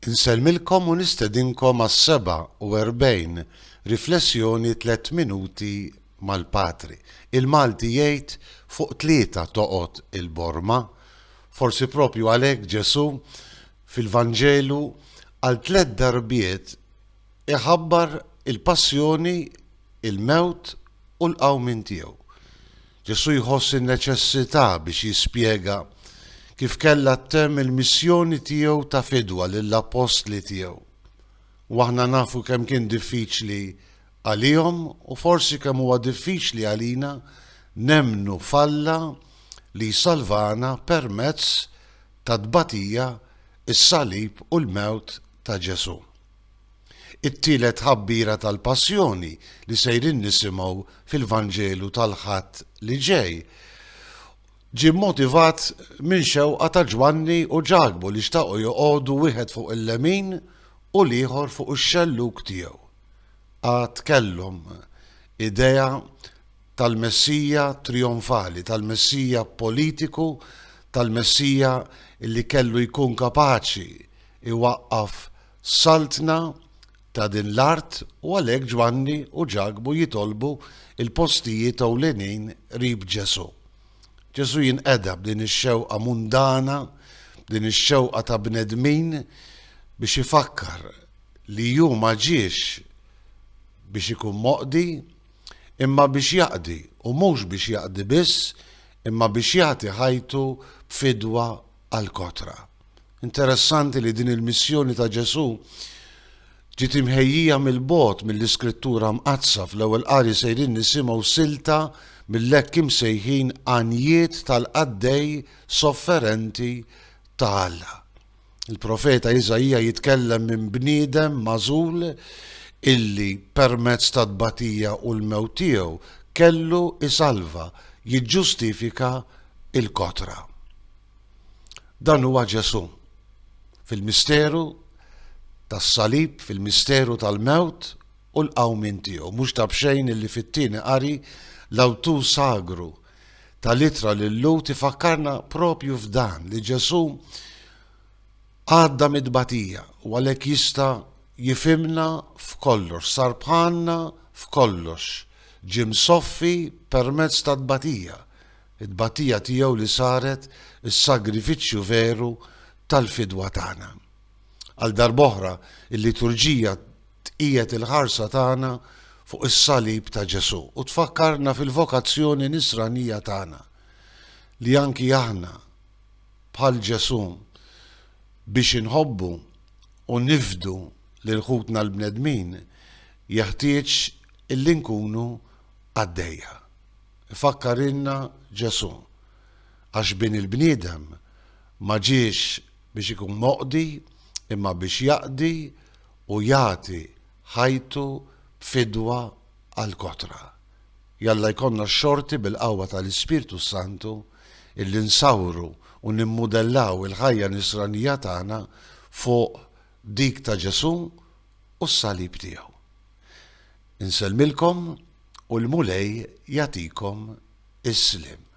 Insellmilkom u nistedinkom għas-47 Riflessjoni Tliet Minuti mal-Patri. Il-Malti jgħid fuq tlieta toqgħod il-borma. Forsi proprju għalhekk Ġesù fil-Vanġelu għal tliet darbiet iħabbar il-passjoni, il-mewt u l-qawmien tiegħu. Ġesù jħoss in-neċessità biex jispjega kif kellha ttemm il-missjoni tiegħu ta' fidwa lill-appostli tiegħu. U aħna nafu kemm kien diffiċli għalihom u forsi kemm huwa diffiċli għalina nemmnu f'Alla li jsalvana permezz tat-tbatija, is-salib u l-mewt ta' Ġesù. It-tielet tħabbira tal-Passjoni li sejrin nisimgħu fil-Vanġelu tal-Ħadd li ġej ġie mmotivat minn xewqa ta' Ġwanni u Ġakbu li xtaqu joqogħdu wieħed fuq il-lemin u l-ieħor fuq ix-xellug tiegħu. Għad kellhom idea tal-Messija trijonfali, tal-Messija politiku, tal-Messija li kellu jkun kapaċi jwaqqaf Saltna ta' din l-art u għalhekk Ġwanni u Ġakbu jitolbu l-postijiet ewlenin qrib Ġesù. Ġesù jinqeda b'din ix-xewqa mundana, b'din ix-xewqa ta' bnedmin biex ifakkar li hu ma ġiex biex ikun moqdi, imma biex jaqdi, u mhux biex jaqdi biss, imma biex jagħti ħajtu b'fidwa għall-kotra. Interessanti li din il-missjoni ta' Ġesù ġiet imħejjija mill-bogħod mill-Iskrittura Mqaddsa fl-ewwel qari sejrin nisimgħu silta mill-hekk imsejħin għanjiet tal-qaddej sofferenti ta' Alla. Il-profeta Iżaija jitkellem minn bniedem magħżul illi permezz ta' tbatija u l-mewt tiegħu kellu isalva, jiġġustifika il-kotra. Dan huwa Ġesù. Fil-misteru tas-salib, fil-misteru tal-mewt u l-qawmien tiegħu. Mhux ta' b'xejn illi fit-tieni qari l-awtur sagru tal-ittra lil Lut ifakkarna propju f'dan li Ġesù għadda mid-batija u għalhekk jista' jifimna f'kollox, sar bħalna f'kollox, ġie msoffi permezz tat-tbatija. it-tbatija tiegħu li saret is-sagrifiċċju veru tal-fidwa tagħna. Għal darb'oħra, il-liturġija tqiegħed il-ħarsa tagħna fuq is-salib ta' Ġesù u tfakkarna fil-vokazzjoni nisranija tagħna li anki aħna bħal Ġesù biex inħobbu u nifdu lil ħutna l-bnedmin jeħtieġ illi nkunu għaddejja. Ifakkarilna Ġesù, għax Bin il-bniedem ma ġiex biex ikun moqdi imma biex jaqdi u jagħti ħajtu b'fidwa għall-kotra. Jalla jkollna x-xorti bil-qawwa tal-Ispirtu s-Santu illi nsawru u nimmudellaw il-ħajja nisranija tagħna fuq dik ta' Ġesù u s-Salib tiegħu. Insellmilkom u l-Mulej jagħtikom is-sliem.